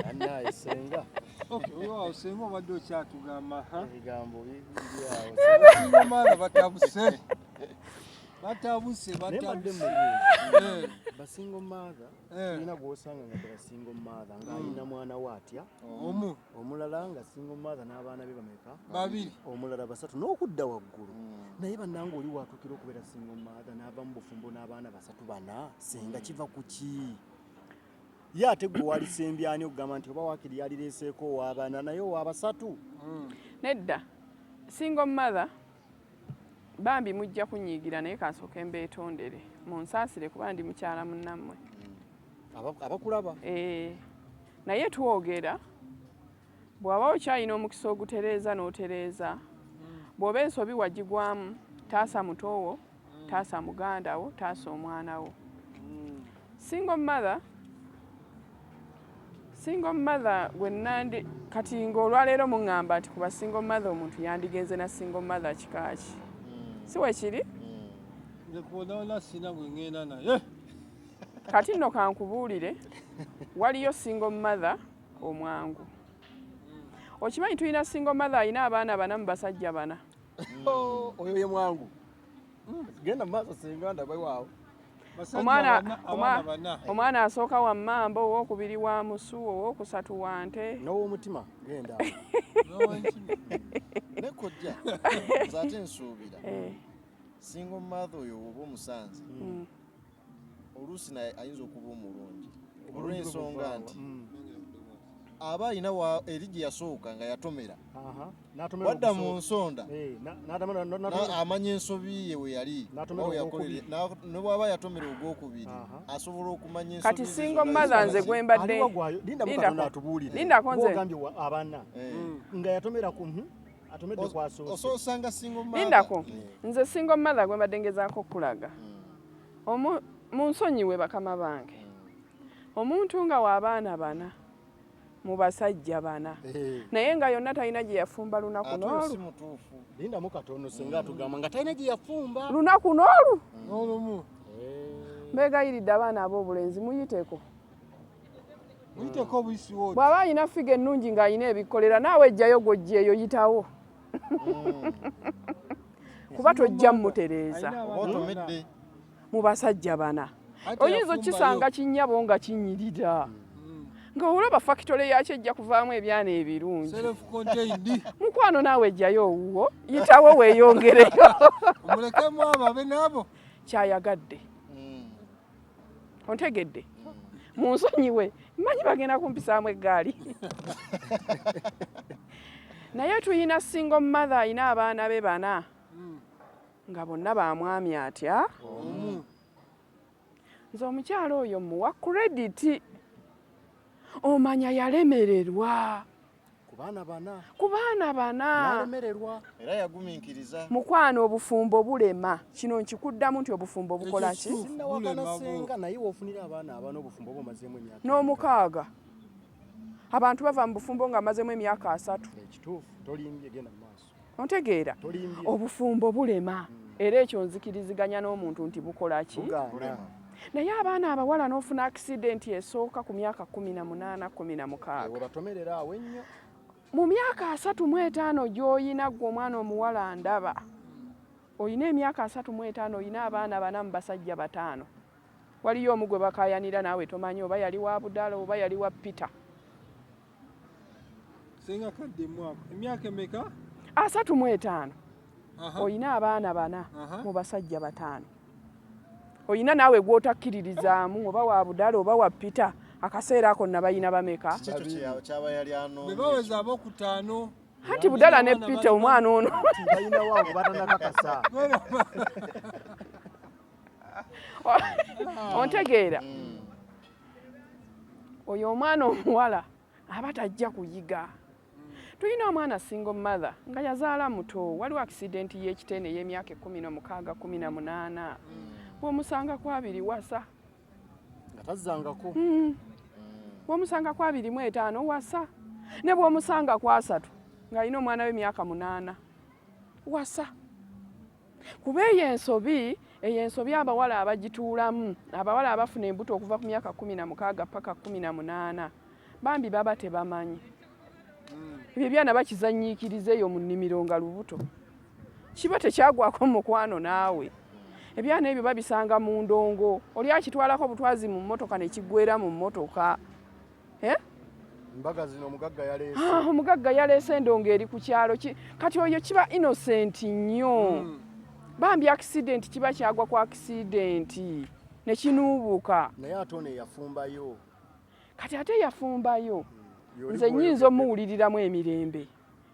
Annaye senga. Okay, wewe senga obadde okyatugamba ha? Ebigambo bibiri awo. Senga mara batabuse. Batabuse batabuse. Eh. Ba single mother. Eh. Ina gwosanga nga ba single mother nga mm. ina mwana watya. Omu. omulala nga single mother n'abaana be bameka babiri omulala basatu n'okudda waggulu hmm. naye bannanga oli waatuukira okubeera single mother n'ava mu bufumbo n'abaana basatu bana senga kiva ku ki ye ate gwe walisembyani okugamba nti oba wakiri yalireeseeko owaabana naye owaabasatu hmm. nedda single mother Bambi mujja kunyiigira naye kansooke mbeetondere munsaasire kuba ndi mukyala munnammwe hmm. abakulaba ee naye twogera bw'aba okyalina omukisa ogutereeza n'otereeza hmm. bw'oba ensobi wagigwamu taasa mutoowo mm. taasa muganda wo taasa omwana wo mm. single mother single mother gwe nandi kati ng'olwaleero muŋŋamba nti kuba single mother omuntu yandigenze na single mother kikaaki mm. si wekiri kati nno kankubuulire waliyo single mother omwangu okimanyi tulina single mother alina abaana bana mu basajja bana Oh, oyo ye mwangu hmm, genda maaso senga ndaba waawo omwana asooka wa mmamba owokubiri wa musu owokusatu wa nte nowomutima genda nekojja zate nsuubira eh. singa omumaatha oyo woba omusanze hmm. oluusi naye ayinza okuba omulungi olw'ensonga nti mm. aba alina eri gye yasooka nga yatomera wadda mu nsonda eh, amanya ensobi ye we yali ne bwaba yatomera ogwokubiri asobola okumanya kati singo maza nze gwembaddendako nze abana eh. mm. nga yatomera ku hmm? atomedde kwasoose osanga singo lindako eh. nze singo mother gwembadde ngezaako okulaga mm. Omu, munsonyiwe bakama bange, omuntu nga w'abaana bana mu basajja bana naye nga yonna talina gye yafumba lunaku n'olu. Lindamu katono singa atugamba nga talina gye yafumba lunaku n'olu n'olumu. Mbeegayiridde abaana ab'obulenzi muyiteko bw'aba alina ffiga ennungi ng'alina ebikkolera naawe ejjayo gw'oggyeeyo yitawo. kuba tojja mutereeza mu basajja bana oyinza okukisanga kinyabo nga kinyirira hmm. nga olaba fakitole yakyo ejja kuvaamu ebyana ebirungi mukwano naawe ejjayo owuwo yitawo weeyongereyo kyayagadde ontegedde munsonyiwe manyi bagenda kumpisaamu eggaali naye tuyina single mother ayina abaana be bana nga bonna bamwami atya nze omukyalo oyo muwa krediti omanya yalemererwa ku baana bana ku baana bana nalemererwa era yagumiikiriza mukwano obufumbo bulema kino nkikuddamu nti obufumbo bukola ki sinawakanasenga naye wofunira abaana abana obufumbo oba omazeemu emyaka n'omukaaga abantu bava mu bufumbo nga amazemu emyaka asatu ekituufu tolimbye genda maaso ontegeera obufumbo bulema era ekyo nzikiriziganya n'omuntu nti bukola ki naye abaana abawala n'ofuna akisidenti esooka ku myaka kumi na munaana kumi na mukaaga mu myaka asatu mu etaano gy'oyina ggwe omwana omuwala ndaba olina emyaka asatu mu etaano olina abaana bana mu basajja bataano waliyo omu gwe bakayanira naawe tomanyi oba yali wa budala oba yali wa peter Senga kadde mwako. Emyaka emeka? Asatu mu etaano. Oyina abaana bana mu basajja bataano. Oyina naawe gw'otakkiririzaamu oba wa budala oba wa pita akaseera ako nabayina bameka? Bebaweza abokutaano. Anti budala ne pita omwana ono. Bayina wa obatana kakasa. Ontegeera. Mm. oyo omwana omuwala aba tajja kuyiga tulina omwana single mother nga yazaala muto waliwo accident y'ekitene ey'emyaka ekkumi nomukaaga kumi na munaana bwomusanga ku abiri wasa nga tazzangako hmm. bwomusanga ku abiri mu etaano wasa ne bwomusanga ku asatu ng'alina omwana w'emyaka munaana wasa Kuba eyo ensobi, eyo ensobi abawala abagituulamu, abawala abafuna embuto okuva ku myaka kkumi na mukaaga paka kkumi na munaana bambi baba tebamanyi. Hmm. Ebyo ebyana bakizanyiikiriza eyo mu nnimiro nga lubuto. Kiba tekyagwako mu mukwano naawe. Ebyana ebyo babisanga mu ndongo, oli akitwalako butwazi mu mmotoka ne kiggwera mu mmotoka. eh? mbaga zino omugagga yaleese ah, omugagga yaleese endongo eri ku kyalo kati oyo kiba innocent nnyo mm. bambi accident kiba kyagwa ku accident nekinuubuka naye ate ono eyafumbayo kati ate yafumbayo mm. nze nyinza omuwuliriramu emirembe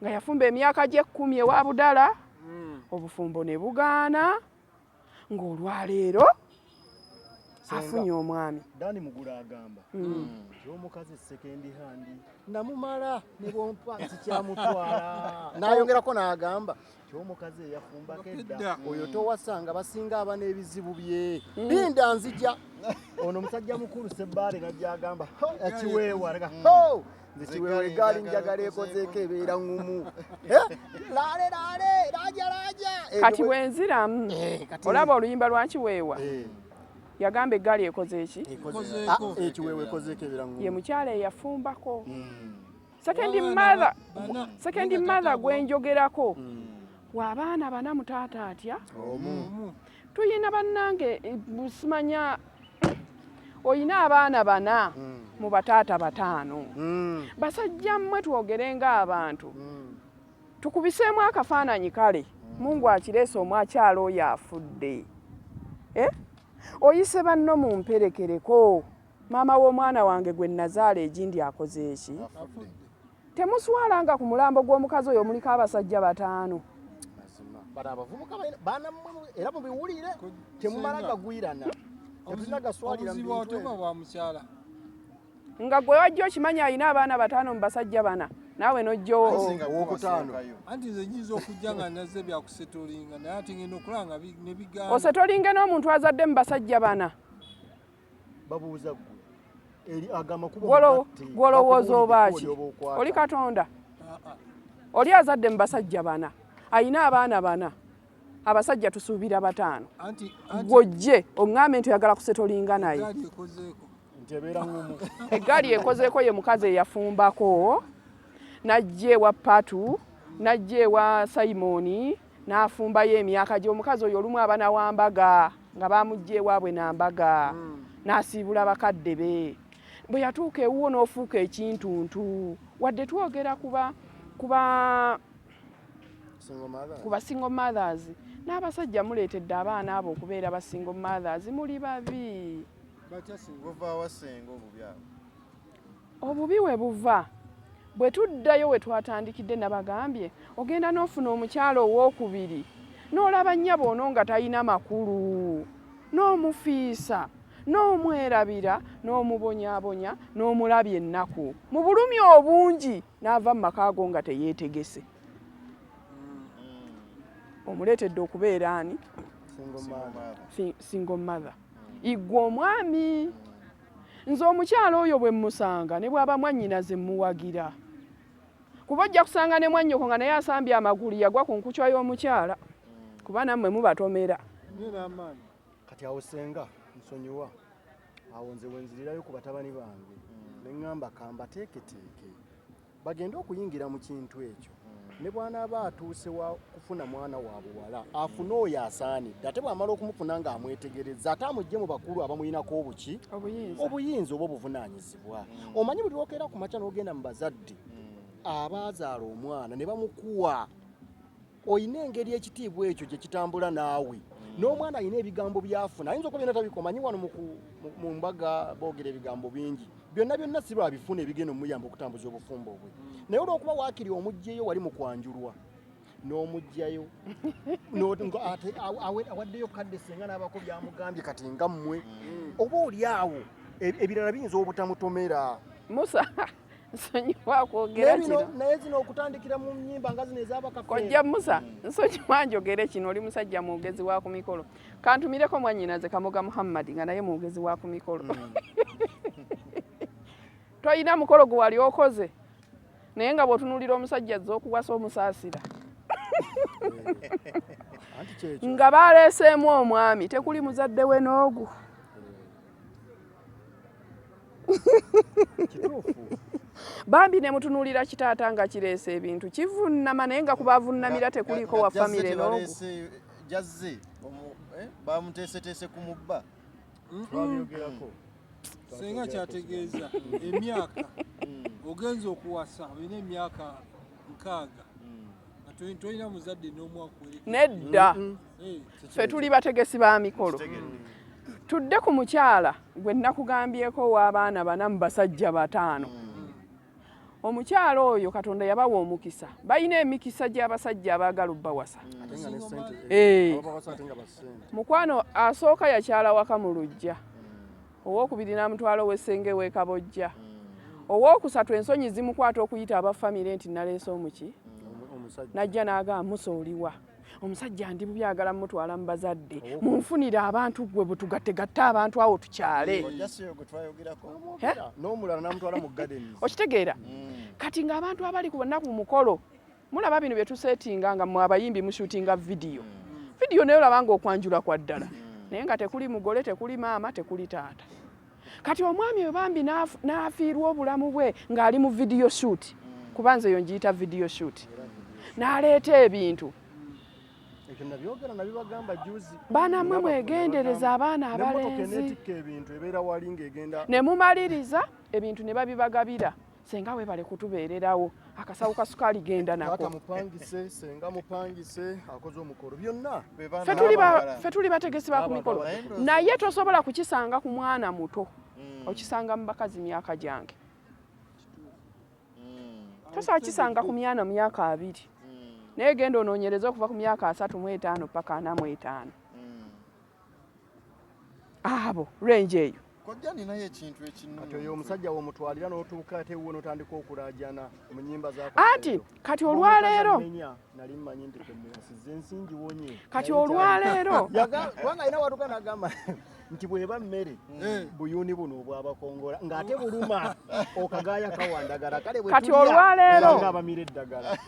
nga yafumba emyaka gyekkumi ewa budala mm. obufumbo ne bugaana ng'olwaleero afunye omwami dani mugula agamba mm. mm. nti omukazi sekendi handi namumala nebwompa nti kyamutwala nayongerako n'agamba nti omukazi eyafumbako edda oyo towasanga basinga aba n'ebizibu bye mm. binda nzija ono musajja mukulu sebbaale najja agamba akiweewa ho nze kiweewa egaali njagala ekozeeko ebeera ngumu laale laale laaja laaja eh, kati bwenziramu eh, olaba oluyimba lwa kiweewa eh. yagamba eggaali ekoze eki ah, ekiweewa ekozeeko ebeera ngumu ye mukyala eyafumbako hmm. sekendi mother sekendi mother gwenjogerako hmm. waabaana bana mutaata atya tulina bannange simanya olina abaana bana mm. mu bataata bataano mm. basajja mmwe twogere ng'abantu mm. tukubiseemu akafaananyi kale mm. mungu akireese omu akyala oyo afudde eh? oyise banno mu mperekereko maama w'omwana wange gwe nazaala egindi akoze eki Temuswala nga ku mulambo gw'omukazi oyo muliko abasajja bataano. Bano abavubuka baana mmwe era mubiwulire temumala gagwirana. Obuzibu bw'otuba bwa mukyala. nga gwe wajja okimanya alina abaana bataano mu basajja bana naawe nojjoosetolinge n'omuntu azadde mu basajja bana babuuza gwe eri agama kubo gwolowooza obaaki oli katonda oli azadde mu basajja bana ayina abaana bana abasajja tusuubira bataano gwojje oŋŋambe nti oyagala kusetolinga naye eggaali ekozeeko ye mukazi eyafumbako najja ewa patu najja ewa simoni nafumbayo emyaka gye omukazi oyo olumu aba nawambaga nga bamujja ewaabwe nambaga hmm. nasiibula bakadde be bwe yatuuka ewuwo n'ofuuka ekintuntu wadde twogera kuba kuba ku basingle mothers n'abasajja muleetedde abaana abo okubeera basingle mothers muli babi Obubi we buva. Bwe tuddayo we twatandikidde nabagambye ogenda n'ofuna omukyala owookubiri n'olaba nnyabo ono nga talina makulu n'omufiisa n'omwerabira n'omubonyaabonya n'omulabya ennaku mu bulumi obungi n'ava mu maka ago nga teyeetegese. Mm. Omuleetedde okubeera ani? Single mother. Single mother. Iggwe omwami. Nze omukyala oyo bwe mmusanga ne bw'aba mwannyinaze mmuwagira kuba ojja kusanga ne mwannyoko nga naye asambye amagulu yagwa ku nkucwa y'omukyala kuba nammwe mubatomera. Kati awo senga nsonyiwa awo nze wenzirirayo ku batabani bange ne ŋŋamba kambateeketeeke bagende okuyingira mu kintu ekyo ne bwanaaba atuuse wa kufuna mwana wa buwala afune oyo asaanidde ate bwamala okumufuna nga amwetegereza ate amujje mu bakulu abamulinako obuki obuyinza oba obuvunaanyizibwa hmm. omanyi buli lwokeera ku makya n'ogenda mu bazadde hmm. abaazaala omwana ne bamukuwa olina engeri ekitiibwa ekyo gye kitambula naawe mm. n'omwana alina ebigambo byafuna ayinza okuba byona tabikomanyi wano mu mbaga boogera ebigambo bingi byonna byonna si lwabifuna ebigenda omuyamba okutambuza obufumbo bwe mm. naye olwokuba waakiri omugyeyo wali mu kwanjulwa n'omugjayo awaddeyo kadde senga n'abako byamugambye kati nga mmwe mm. oba oli awo e, ebirala biyinza obutamutomera musa nsonyiwa kwogera kino naye zino okutandikira mu nyimba nga zino ezabakafe kojja musa nsonyiwa njogere kino oli musajja mwogezi wa ku mikolo kantumireko mwanyinaze kamoga muhammadi nga naye mwogezi wa ku mikolo hmm. toyina mukolo gwe wali okoze naye nga bwotunulira omusajja azze okuwasa omusaasira nga baleeseemu omwami tekuli muzadde we n'ogu bambi ne mutunuulira kitaata nga kireese ebintu kivunnama naye nga kuba avunnamira tekuliiko wa famire noogu jazze eh, bamuteeseteese ku mubba twabyogerako senga kyategeeza emyaka mm. ogenza okuwasa olina emyaka nkaaga mm. nga tolina muzadde n'omwakuwere nedda ffe tuli bategesi ba mikolo tudde ku mukyala gwe nakugambyeko ow'abaana bana mu basajja bataano hmm. omukyala oyo katonda yabawa omukisa balina emikisa gy'abasajja abaagala obbawasa hmm. eh. mukwano asooka yakyala waka mu lujja hmm. owokubiri n'amutwala ow'essenge w'ekabojja owokusatu ensonyi zimukwata okuyita abafamire nti naleese omuki najja n'agamba musa oliwa mm. omusajja ndi bubi agala mutwala mu bazadde oh. munfunire abantu gwe bwetugattegatte abantu awo tukyale okitegeera mm. kati ng'abantu abali ku banaku mukolo mulaba bino byetusetinga nga mwe abayimbi mushutinga vidiyo mm. vidiyo naye olabanga okwanjula kwa ddala mm. naye nga tekuli mugole tekuli maama tekuli taata kati omwami oyo bambi n'afiirwa obulamu bwe ng'ali mu vidiyo shuuti kuba nze eyo ngiyita vidiyo shuuti n'aleeta ebintu banamwe mwegendereza abaana abalenzi ne mumaliriza ebintu ne babibagabira senga webale kutubeererawo akasawo ka sukaali genda nako mupangise senga mupangise akoze omukolo byonna ffe tuli bategesi ba ku mikolo naye tosobola kukisanga ku mwana muto hmm. okisanga mu bakazi myaka gyange hmm. tosobola kisanga ku myana myaka abiri hmm. naye genda onoonyereza okuva ku myaka asatu mu etaano paka ana mu etaano abo range eyo kojja ninayo ekintu ekintu oyo omusajja womutwalira notuuka ate wuwe notandika okulajana mu nyimba za anti kati olwaleero nali mmanyi nti kwemuwasiza ensi ngiwonye kati olwaleero kubanga alina watuka nagamba nti bweba mmere hmm. buyuni buno obwabakongola ng'ate buluma okagaaya kawandagala kale kati olwaleero abamira eddagala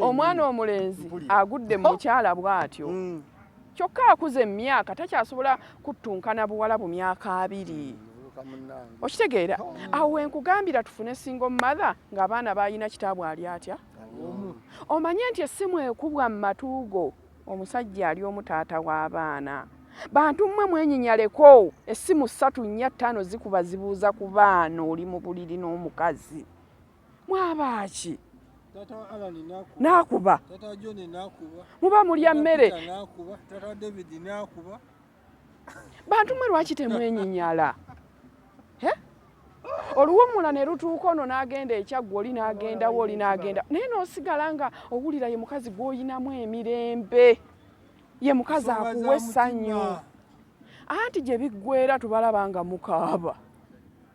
omwana omulenzi agudde mu mukyala bw'atyo hmm. Kyokka akuze emyaka takyasobola kuttunkana buwala bu myaka abiri. Okitegeera? Awo we nkugambira tufune single mother ng'abaana baalina kitaabwe ali atya? Omanye nti essimu ekubwa mu matu go omusajja ali omu taata w'abaana. Bantu mmwe mwenyinyaleko, essimu ssatu nnya ttaano zikuba zibuuza ku baana oli mu buliri n'omukazi. mwabaaki nakuba muba mulya mmere bantu mwe lwaki temwenyinyala oluwumula ne lutuuka ono n'agenda ekyaggwa oli n'agendawo oli n'agenda naye n'osigala nga owulira ye mukazi gw'oyinamu emirembe ye mukazi akuwa essanyu anti gye biggwera tubalaba nga mukaaba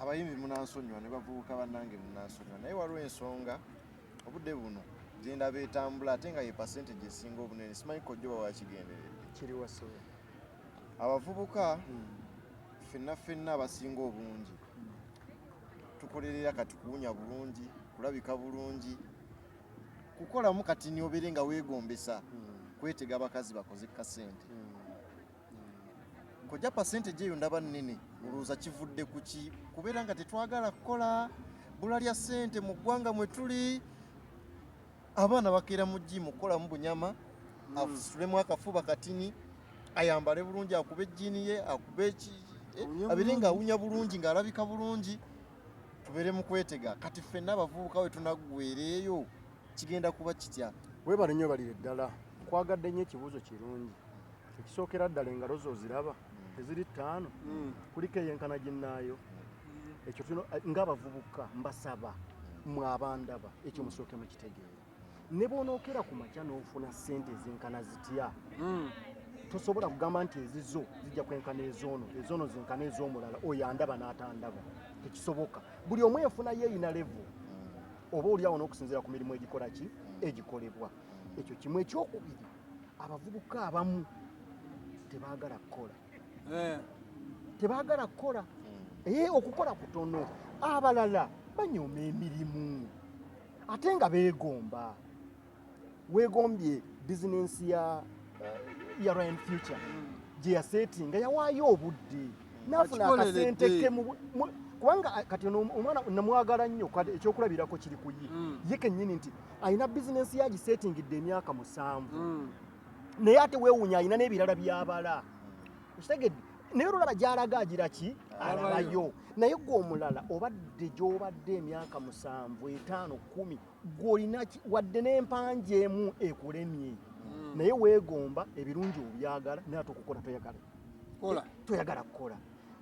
abayimbi munansonyiwa ne bavubuka bannange munansonyiwa naye waliwo ensonga obudde buno gyendaba etambula ate nga ye percentage esinga obunene simanyi kojjoba wakigenderedde kiriwaso abavubuka hmm. fenna fenna abasinga obungi hmm. tukolerera kati kuwunya bulungi kulabika bulungi kukolamu kati niobeere nga wegombesa hmm. kwetega abakazi bakoze kasente kojja percentage eyo ndaba nnene olowooza kivudde ku ki kubeera nga tetwagala kukola bula lya ssente mu ggwanga mwe tuli abaana bakeera mu jimu kukolamu bunyama hmm. afusulemu akafuba katini ayambale bulungi akube ejjiini ye akube eh, abeere nga awunya bulungi ng'alabika bulungi tubeere mu kwetega kati ffenna abavubuka we tunaggwereeyo kigenda kuba kitya webale nnyo balire ddala nkwagadde nnyo ekibuuzo kirungi ekisookera ddala engalo zo oziraba hmm. teziri ttaano hmm. kuliko eyenkana ginnaayo hmm. ekyo tulina eh, ngaabavubuka mbasaba mwe abandaba ekyo musooke mukitegeera ne bwonookera ku makya n'ofuna ssente ezenkana zitya tosobola kugamba nti ezizo zijja kwenkana ezoono ezoono zenkana ez'omulala oyo andaba n'atandaba tekisoboka buli omu enfuna yeeyina levu oba oli awo n'okusinziira ku mirimu egikola ki egikolebwa ekyo kimu ekyokubiri abavubuka abamu tebagala kukola eh. tebagala kukola hmm. e okukola kutono abalala banyooma emirimu ate nga beegomba weegombye bizinensi ya eh, ya ryan future hmm. gye yaseeti nga yawaayo obudde nafuna akasente ke kubanga kati omwana namwagala nnyo ekyokulabirako kiri ku ye ye kennyini nti alina bizinensi ye agiseetingidde emyaka musanvu hmm. naye ate weewunya alina n'ebirala byabala okitegedde naye olulaba gyalaga agira ki alabayo naye gwe omulala obadde gy'obadde emyaka musanvu etaano kumi gwolinaki wadde n'empanja emu ekulemye hmm. naye weegomba ebirungi obyagala naye ate okukola toyagala toyagala kukola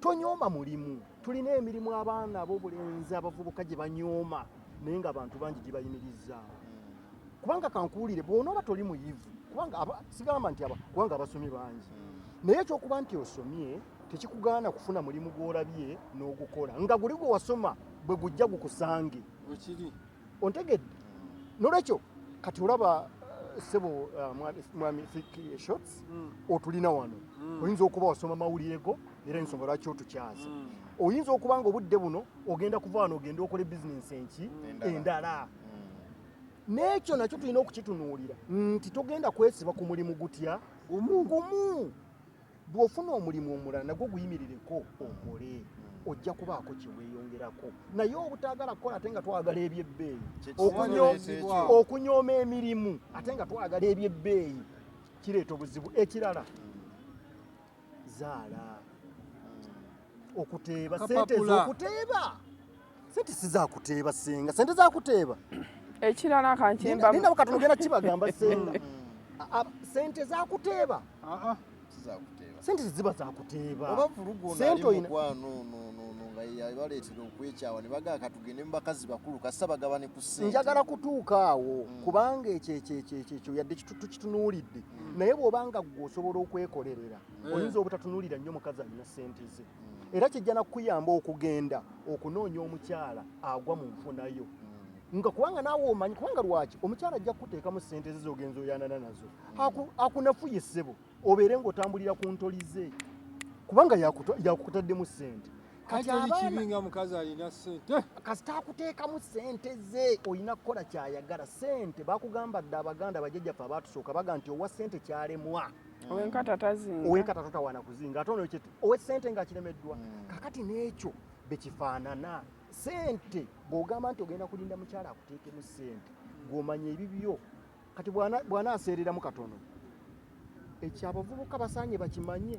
Tonyooma mulimu. Tulina emirimu abaana ab'obulenzi abavubuka gye banyooma naye nga abantu bangi gibayimirizzaawo. Kubanga kankuwulire bw'onooba toli muyivu kubanga sigamba nti kubanga abasomye bangi naye ekyokuba nti osomye tekikugaana kufuna mulimu gw'olabye n'ogukola nga guli gwe wasoma bwe gujja gukusange. ontegedde nolwekyo kati olaba eh, sebo eh, mwami fiki shots mm. otulina wano mm. oyinza okuba wasoma mawulire go era ensonga lwaki otukyaza mm. oyinza okuba nga obudde buno ogenda kuva wano ogenda okola bizinensi enki endala n'ekyo nakyo tulina okukitunuulira nti togenda kwesiba ku mulimu gutya gumu bw'ofuna omulimu omulala nagwo guyimirireko okole hmm. ojja kubaako kyeweeyongerako naye obutaagala kukola ate nga twagala ebyebbeeyi okunyooma emirimu ate nga twagala ebyebbeeyi kireeta obuzibu ekirala zaala hmm. okuteeba sente ezokuteeba sente sizakuteeba senga sente zakuteeba ekirala kankimbaninabo katono genda kibagamba senga sente zakuteeba sente teziba zakuteeba sente oyina baleetera okwekyawa ne bagaa katugende mu bakazi bakulu kasita bagabane ku ssente njagala kutuuka awo mm. kubanga ekyo ekyo ekyo ekyo ekyo yadde tukitunuulidde mm. naye bw'oba nga ggwe osobola okwekolerera eh. oyinza obutatunuulira nnyo mukazi alina ssente ze mm. era kijja nakukuyamba okugenda okunoonya omukyala agwa mu nfunayo nga kubanga naawe omanyi kubanga lwaki omukyala ajja kukuteekamu ssente ze zogenza oyanana nazo akunafuye ssebo obeere ng'otambulira ku ntoli ze kubanga yakukutaddemu ssente katiabinga mukazi alina sente kasita akuteekamu sente ze olina kukola kyayagala sente bakugamba dde abaganda bajajjaffe abaatusooka baga nti owa sente kyalemwa mm. owenkata tazinga owenkata tatawana kuzinga ate ono owe sente nga akiremeddwa mm. kakati n'ekyo bekifaanana sente bw'ogamba nti ogenda kulinda mukyala akuteekemu sente gw'omanya ebibyo kati bw'anaaseereramu katono ekyo abavubuka basaanye bakimanye